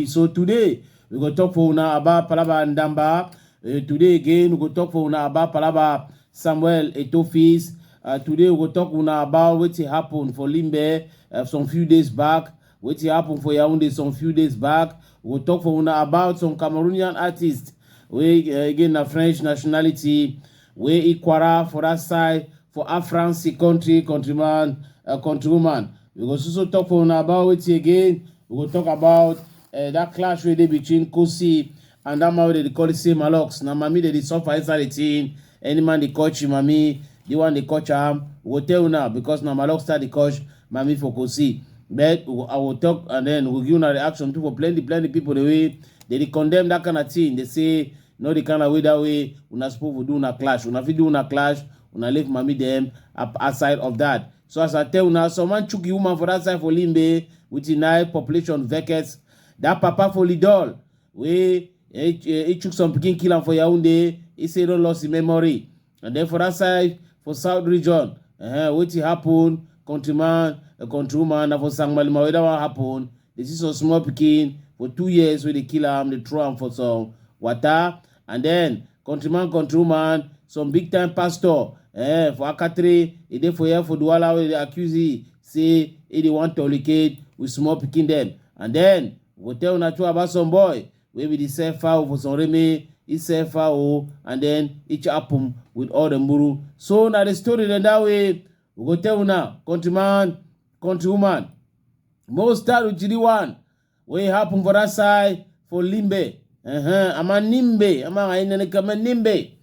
so today we go talk for una about palaba ndamba uh, today again we go talk for una about palaba samuel etofis uh, today we go talk una about wetin happen for limbe uh, some few days back Wetin happen for Yaounde some few days back, we go talk for una about some Cameroonian artists wey eh, again na French nationality wey e kwara for that side for France country countryman uh, countrywoman. We go also talk for una about wetin again, we go talk about uh, that clash wey dey between Kosi and that man wey dem dey call say Malox. Na mami dem dey suffer inside the thing. Any man dey coach him mami, the one dey coach am, we go tell una because na Malok start the coach mami for Kosi. But we go, I will talk and then we go give una reaction too for plenty plenty people the way they dey condemn that kind of thing. They say no the kind of way that way una suppose for do una clash. Una fit do una clash, una leave mami them up outside of that. So as I tell una, some man chook the woman for that side for Limbe with the knife population vekes. That papa for Lidol wey e chook some pikin kill am for Yaoundé, e say e don lost im memory. And then for that side, for South region, uh, wetin happen, countryman, uh, countrywoman, na for Sangmalima wey that one happen. They see some small pikin for two years wey dey kill am, dey throw am for some water. And then country man country woman some big time pastor eh, for akatare e dey for here for duwala wey dey accuse e say e dey wan tolicate with small pikin dem and then we go tell una true about some boy wey be the sell fowl for some reme e sell fowl and then e chop am with all the muru so na the story dem that way we go tell una country man country woman most times we one wey happen for that side for Limbe. Uh-huh. I'm a Nimbe. I'm a Inene Kama Nimbe.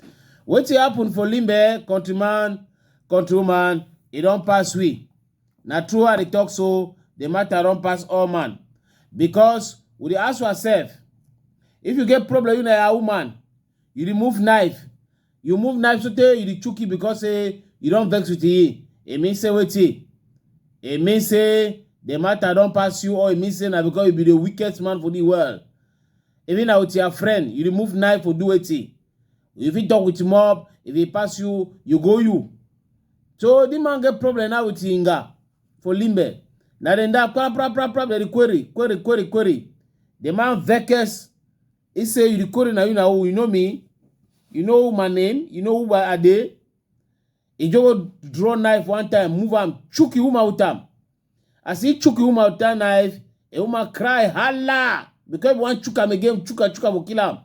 What happen for Limbe, countryman, countrywoman, it don't pass we. Na true how they talk so, the matter don't pass all man. Because we dey ask ourselves, if you get problem, you na your woman, you remove knife you move knife sotey you dey chook it because say you don vex with e e mean say wetin e mean say the matter don pass you or e mean say na because you be the weakest man for the world even na with your friend you remove knife for do wetin you fit talk with mob if e pass you you go you so the man get problem now with inga for limbe na dem da pra pra pra pra dem dey query query query query the man vex He say, you the code na you na who, you know me? You know my name? You know who I dey? He just go draw knife one time, move am, chook the woman with am. As he chook the woman with that knife, the woman cry, holla! Because if you want chook am again, chook am, chook am, go kill am.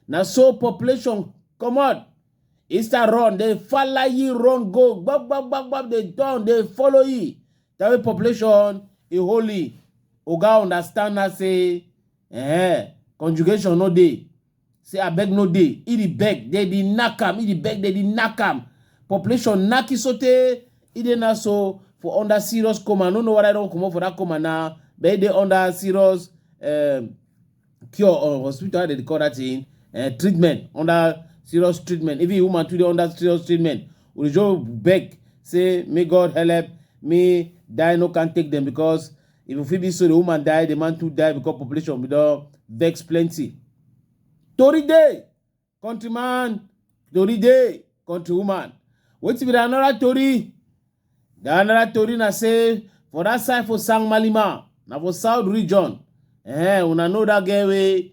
Na so population comot. He start run, they follow ye run go, gbab, gbab, gbab, gbab, they down, they follow ye. That way population, he holy. Oga understand now say, Eh, conjugation no dey. Say abeg no dey. E dey beg, dey dey knack am. E dey beg, dey dey knack am. Population knack e sotey e dey now so for under serious coma. I no know whether e don comot for that coma now, but e dey under serious um, cure or hospital how dem dey call that thing um, treatment under serious treatment. Even the woman too dey under serious treatment. Ojo beg say make God help me die no can take dem because Even fit be so the woman die, the man too die because population we don vex plenty. Tori dey, countryman, tori dey, countrywoman. Wetin be the another tori? The another tori na say for that side for Sangmalima, na for south region, eh, una know that girl wey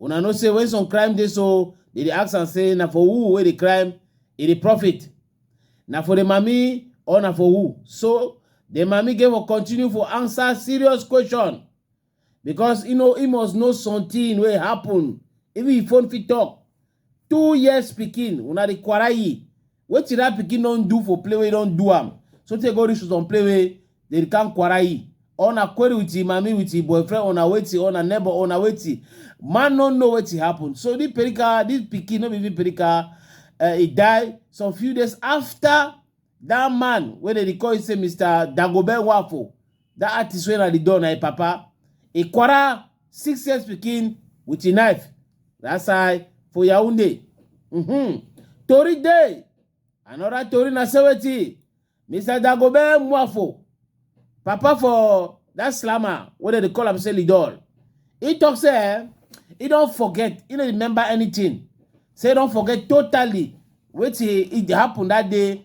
Una know say when some crime dey so, they dey ask am say na for who wey dey crime e dey profit? Na for the mami or na for who? So the mami get for continue for answer serious question because e know e must know something wey happen even if phone fit talk. two years pikin una dey kwarai wetin that pikin don do for play wey don do am so tey go reach to some play wey dey come kwarai una query with him mami with him boyfriend una wetin una neighbor una wetin man no know wetin happen so this perika this pikin no be even perika uh, he die some few days after that man wey dey dey call him say mr dagobe wafo That artist wey na the door na him papa. He quarrel six years pikin with him knife. That side for Yaoundé. Mm-hmm. Tori dey. Another tori na say wetin Mr. Dagobert Mwafo, papa for that slammer wey dem dey call am say Lidol, he talk say eh, he don forget, he no remember anything. Say he don forget totally wetin e happen that day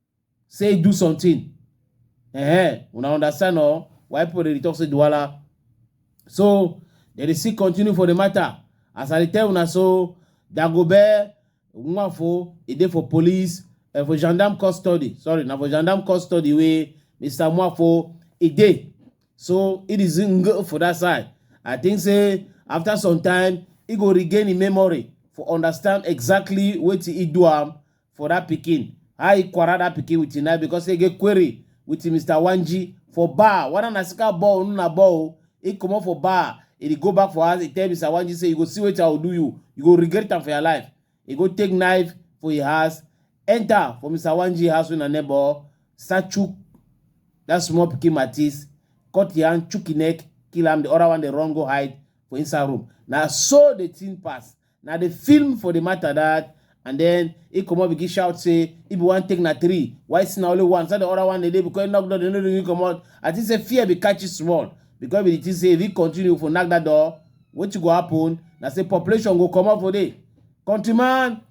say do something eh una understand or why people dey talk say duwala so dem dey still continue for the matter as i dey tell una so dagobert nwafo e dey for police uh, for gendarme custody sorry na for gendarme custody wey mr nwafo e dey so it is in go for that side i think say after some time e go regain im memory for understand exactly wetin e do am for that pikin how he quarrel that pikin with him because he get query with mr wanji for bar whether na sika ball or na ball he comot for bar he dey go back for house he tell mr wanji say you go see wetin i go do you you go regret am for your life he go take knife for him house enter for mr wanji house wey na neighbor start chook that small pikin matis cut him hand chook him neck kill am the other one dey run go hide for inside room na so the thing pass na the film for the matter that and then he come up begin shout say if you want take na three why see na only one so the other one dey dey because he knock door they no really come out i think say fear be catch you small because we think say if he continue for knock that door wetin go happen na say population go comot for there countryman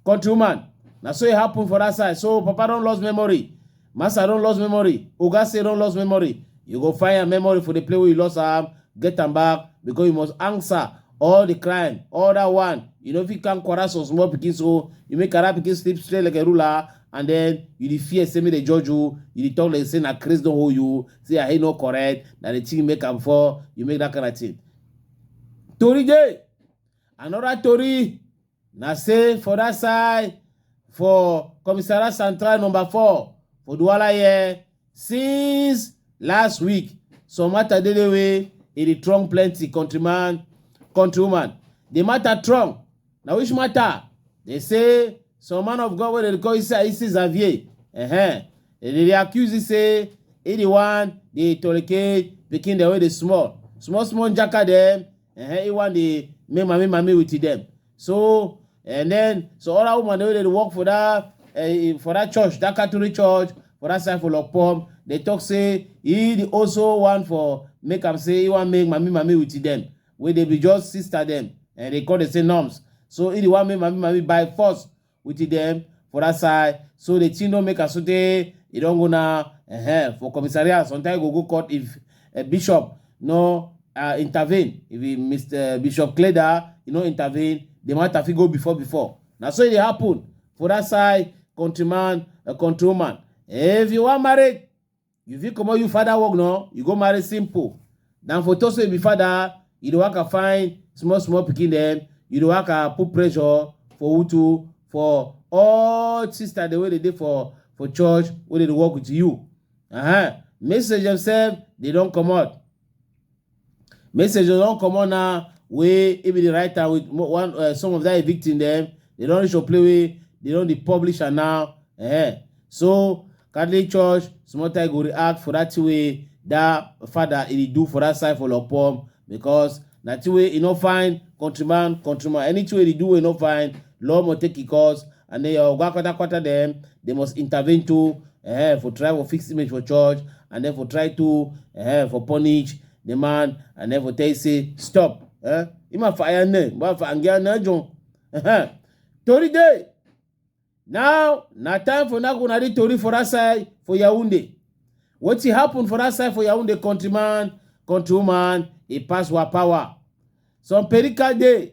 countrywoman na so e happen for that side so papa don lost memory Master don lost memory. Oga say don lost memory. You go find your memory for the play where you lost am, get am back because you must answer all the crime. All that one, you know if you can quarrel some small pikin so you make another pikin sleep straight like a ruler and then you dey fear say make dem judge you, you dey talk like say na craze don hold you, say I ain't no correct, na the thing make am fall, you make that kind of thing. Tori dey, another tori Na say for that side for Commissariat Central number four for Douala here since last week some matter dey dey wey e dey trunk plenty countryman countrywoman. The matter trunk na which matter? They say some man of God wey dem dey call Issa Issa Xavier uh-huh. They dey accuse you say he the one dey tolerate pikin dem wey dey small small small jaka dem Uh-huh, he want the me mami mami with them. So and then so other woman they dey work for that uh, for that church, that Catholic church, for that side for Lopom. They talk say he dey also want for make am say he want make mami mami with them. Where they be just sister them and they call they say norms. So he dey want make mami mami by force with dem for that side so the thing don make am so tey e don go now uh-huh, for commissariat sometimes e go go court if uh, bishop no uh, intervene if he, mr bishop cleda e no intervene the matter fit go before before na so e dey happen for that side countryman uh, countrywoman if you wan marry You fit comot you father work now, you go marry simple. Than for talk say you be father, you dey waka find small small pikin dem, you dey waka put pressure for utu for all sister dem wey dey dey for for church wey dey dey work with you. Uh-huh. Message themselves, they don comot. Message don comot now wey e be the writer with one uh, some of that victim dem they don reach your play wey they don dey publish am now. Eh. So Catholic Church small time go react for that thing wey that father e dey do for that side for Lopom because na thing wey e no find countryman countryman anything wey e dey do wey e no find law must take e course and then your oga kwata kwata dem they must intervene too eh, for try for fix image for church and then for try to eh, for punish the man and then for tell you say stop eh, ima for aya ne ba for angia na jon eh, tori dey now na time for na kuna di tori for that side for yaounde wetin happen for that side for yaounde countryman countrywoman e pass wa power some perica dey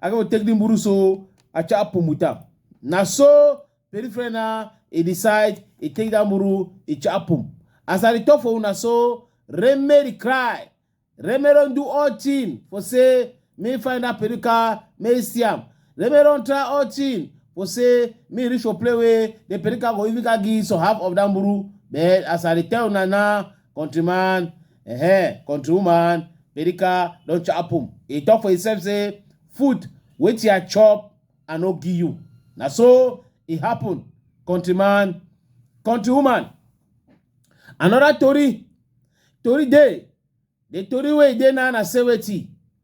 I go take the mburu so I chop pumuta. Na so peripheral na he decide he take that mburu he chop pum. As I dey talk for una so Reme dey cry. Reme don do all thing for say me find that perika me see am. Reme don try all thing for say me reach for play wey the perika go even ka give some half of that mburu. But as I dey tell una now country man eh country woman America don chop am e talk for himself say food wetin I chop I no give you na so e happen country man country woman another tori tori dey the tori wey e dey now na say wetin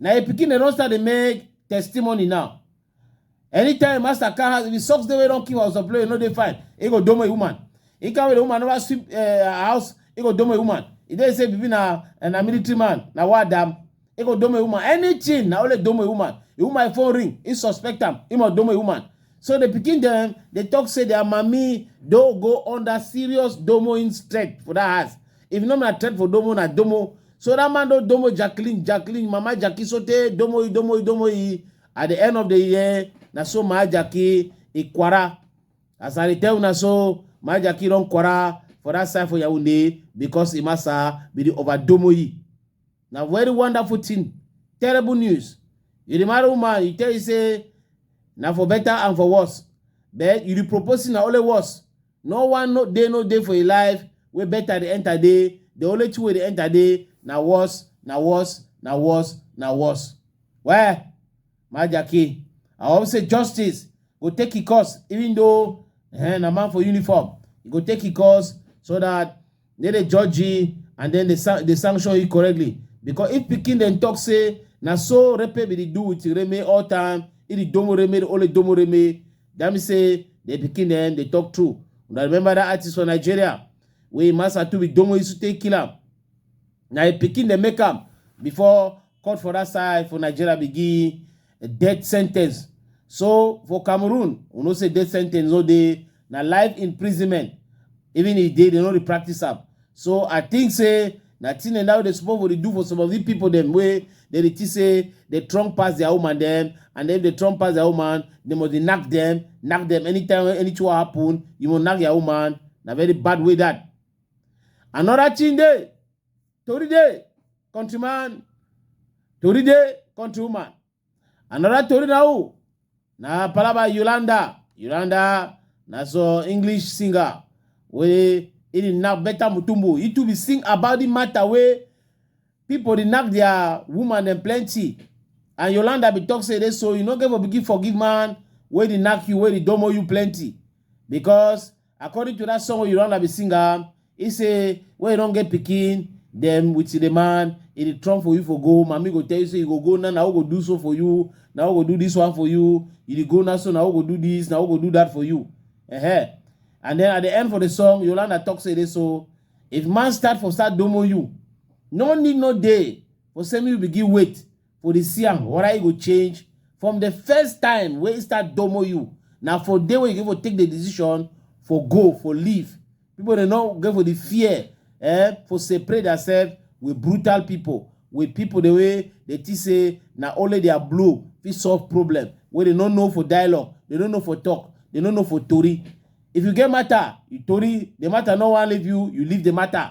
Na him pikin dem don start dey make testimony now. Anytime master car has the socks dey wey don kill house of play no dey fine. He go domo a woman. He can the woman never sweep uh, house. He go domo a woman. He dey say baby na na military man na what dam. He go domo a woman. Anything na only domo a woman. A woman phone ring. He suspect am. He must domo a woman. So the pikin dem dey talk say their mommy do go under serious domoing threat for that house. If not na threat for domo na domo. So that man don domo Jacqueline, Jacqueline, mama Jackie sote domo domo domo e. At the end of the year, na so my Jackie e kwara. As I dey tell una so, my Jackie don kwara for that side for Yaoundé because Imasa be the overdomo e. na very wonderful thing terrible news you dey marry woman you tell you say na for better and for worse but you dey propose na only worse no one no dey no dey for your life wey better dey enter dey the only thing wey dey enter dey na worse na worse na worse na worse why Majaki. I always say justice go take it course, even though eh, na man for uniform, e go take it course so that they dey judge you and then they, san- they sanction you correctly. Because if Peking then talk say na so rape be dey do with Reme all time, it is domo Reme, the only domo Reme. That mean say the Peking then they talk true. Una remember that artist for Nigeria wey Masa Tubi domo used to take kill am. Na im pikin dem make am before court for that side for Nigeria be give death sentence. So for Cameroon, we know say death sentence no dey na life imprisonment. Even if dey, they no dey practice am. So I think say na thing dem that wey dey suppose for dey do for some of the people dem wey dem dey think say dey strong pass their woman dem and if dey strong pass their woman, they must dey knack them, knack them anytime when anything wey happen, you must knack their woman. Na very bad way that. Another thing day, Tori day, countryman, Tori day, countrywoman. Another Tori na who? Na Palaba Yolanda. Yolanda, na so English singer. Wey e dey knack better mutumbo. He too be sing about the matter wey people dey knack their woman dem plenty. And Yolanda be talk say dey so you no get for begin forgive man wey dey knack you, wey dey domo you plenty. Because According to that song wey you run abi sing am, he say when you don get pikin, dem with the man, e dey trump for you for go. Mami go tell you say you go go now, na who go do so for you, na who go do this one for you. You dey go now, so na who go do this, na who go do that for you. Uh-huh. And then at the end for the song, Yolanda talk say this so if man start for start domo you, no need no day for say me you begin wait. for the see am whether e go change from the first time wey e start domo you na for day wey you go take the decision for go for leave people dey no go for the fear eh for separate themselves with brutal people with people the way they think say na only their blow fit solve problem wey they no know for dialogue they no know for talk they no know for tori if you get matter you tori the matter no wan leave you you leave the matter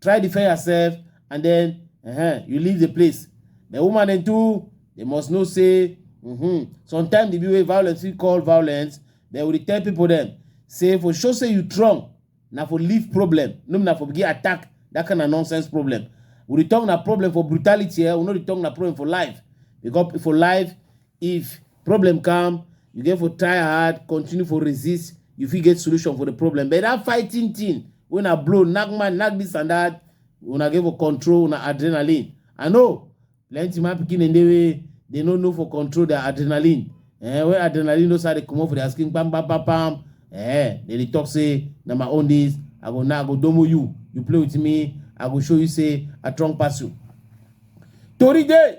try defend yourself and then uh -huh, you leave the place the woman dem too they must know say mm -hmm, sometimes the way violence we call violence they will tell people them say for sure say you strong na for leave problem no na for begin attack that kind of nonsense problem we dey talk na problem for brutality eh? we no dey talk na problem for life because for life If problem come, you get for try hard, continue for resist, you fit get solution for the problem. But that fighting thing, when I blow, knock man, knock this and that, when I get for control, when I adrenaline. I know, plenty man picking in the way, they don't know for control their adrenaline. Eh, when adrenaline knows how they come up for their skin, bam, bam, bam, bam. Eh, they dey talk say, na my own this, I go now, I go domo you, you play with me, I go show you say, I strong pass you. Tori dey,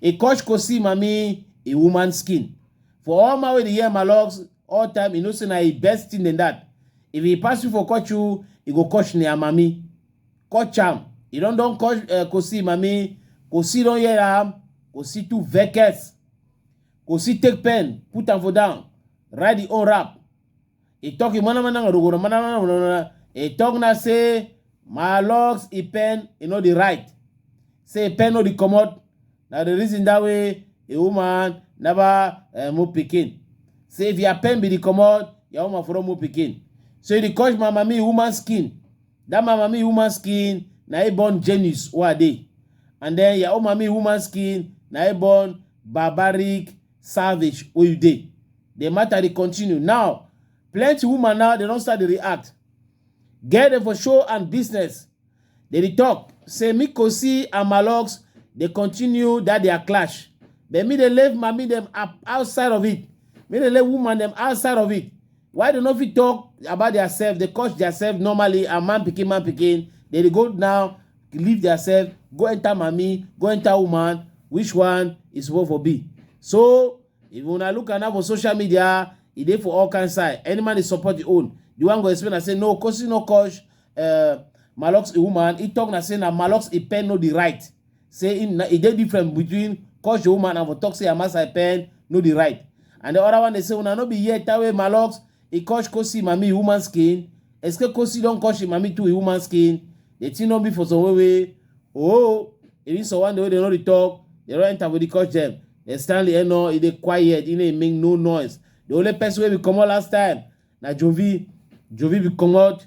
E kosh ko see mami, e woman skin. For all man wey dey hear my logs, all time e know say na e best thing than that. If e pass you for kosh you, e go kosh nia mami. Kosh am, e don don kosh uh, ko see mami, ko see don hear am, ko see too vex. Ko see take pen, put am for down, write the own rap. He talk him mana mana rogoro mana mana mana mana. He talk na say my locks he pen he no dey right. Say he pen no dey comot. Na the reason that way a woman never uh, move pikin. Say if your pen be the comot, your woman for don move pikin. So he dey cause my mami woman skin. That my mami woman skin na he born genius wey I dey. And then your own mami woman skin na he born barbaric Savage Oyude. The matter dey continue now. Plenty woman now dey don start dey react. Girl dem for show and business dey dey talk say Mikosi and Malox dey continue that their clash. But me dey leave mami dem up outside of it. Me dey leave woman dem outside of it. why dem no fit talk about their self dey curse their self normally and man pikin man pikin dem dey go now leave their self go enter mami go enter woman which one e suppose for be so if una look am now for social media e dey for all kind side any man dey support the own the one go explain na say no kosi no kosh uh, malox a woman he talk na say na malox a pen no the right say im na e dey different between call your woman and for talk say Hamas I pen no dey right. And the other one dey say una no be here tawe malox e kosh kosi mami woman skin eske kosi don kosh im mami too e woman skin the thing no be for some way way oh even some one the way they no dey talk they don enter for the kosh dem they stand there no e dey quiet e no dey make no noise the only person wey be comot last time na jovi jovi be comot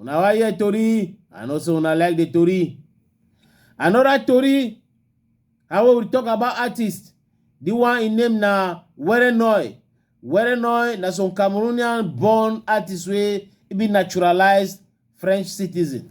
una wan hear tori i know say una like the tori another tori how we will talk about artist the one im name na werenoy werenoy na some cameroonian born artist wey e be naturalized french citizen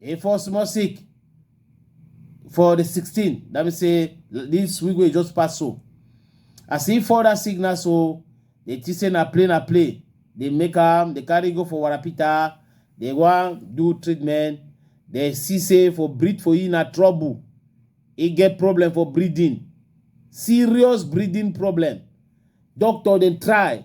e fall small sick for the 16 that means say this week wey just pass so as e fall that signal so dey think say na play na play dey make am dey carry go for warapita dey wan do treatment dey see say for breathe for e na trouble e get problem for breathing serious breathing problem doctor dey try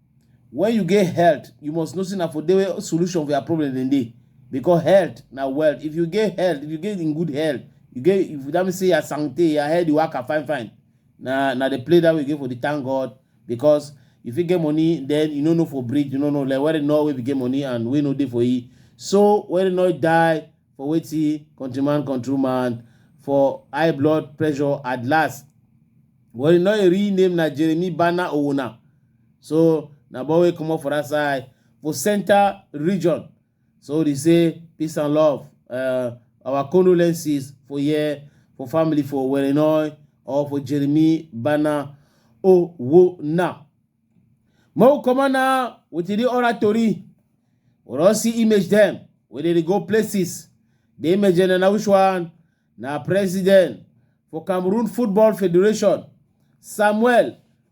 When you get health, you must know say na for there where solution for your problem dem dey because health na wealth. If you get health, if you get in good health, you get if that means say your santé, your head dey waka fine fine. Na na the play that way you get for the thank God because you fit get money then you no know for bridge, you no know like where the know wey be get money and wey no dey for e. So where the know die for wetin countryman countryman for high blood pressure at last. Where the know e real name na Jeremy Bana Owona. so na boy wey comot for that side for center region so they say peace and love uh, our condolences for here for family for Werenoy or for Jeremy Bana Owona. Mo come on now with the oratory. We don't see image them. We dey go places. The image and na which one? Na president for Cameroon Football Federation, Samuel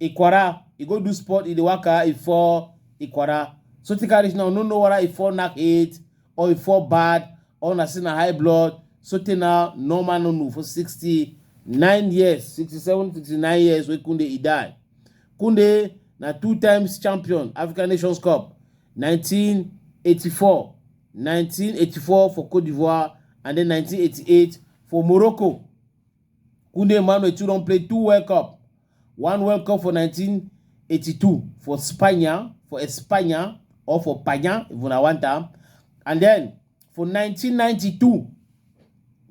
Ikwara, e go do sport, e dey waka, e fall Ikwara. So take reach now, no know whether e fall knack head or e fall bad or na say na high blood. So take now, no man no know for 69 years, 67, 69 years wey Kunde e die. Kunde na two times champion African Nations Cup 1984, 1984 for Cote d'Ivoire and then 1988 for Morocco. Kunde Emmanuel too don play two World Cup. One World Cup for 1982 for Spania, for Espana, or for Panya, if una want am. And then for 1992,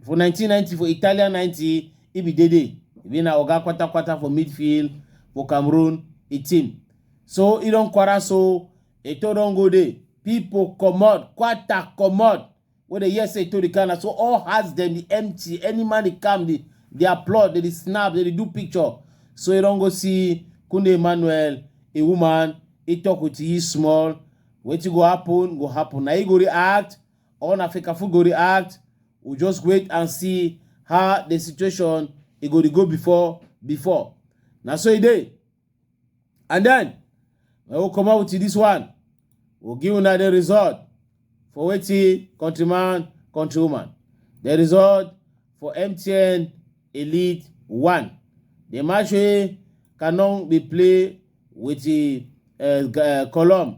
for 1990, for Italian 90, he be Dede. He na Oga Kwata Kwata for midfield for Cameroon, a team. So he don quarter so, Eto don go there. People comot, Kwata comot. wey dey hear say e to the Ghana, so all hearts dem dey empty. Any man dey come, dey dey applaud, dey dey snap, dey dey do picture. So you don go see Kunde Emmanuel, a woman, he talk with you small. Wetin go happen, go happen. Na he go react, or na Fekafu go react. We just wait and see how the situation e go dey go before before. Na so e dey. and then i go come out with this one we'll give una the result for wetin countryman countrywoman the result for mtn elite one the match wey canon dey play with the uh, column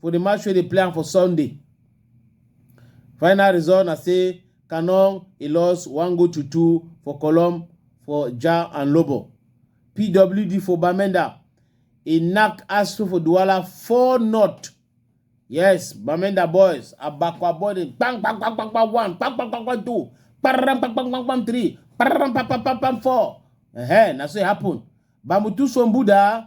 for di match wey dey play am for sunday final result na say Canon e lost one goal to two for Colom for Jah and Lobo. PWD for Bamenda e knack Astro for Douala four not. Yes, Bamenda boys Abakwa boy dey bang bang bang bang bang one bang bang bang bang two bang bang bang bang bang three bang bang bang bang bang four. Ehe, na so e happen. Bamutu Sombuda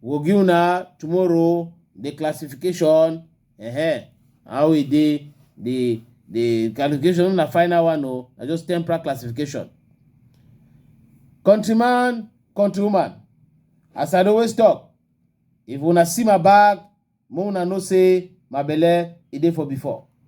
We go give una tomorrow the classification uh-huh, how e dey the the classification na final one o na just temporal classification. Countryman, countrywoman, as I dey always talk, if una see my bag, make una know say my belle e dey for before.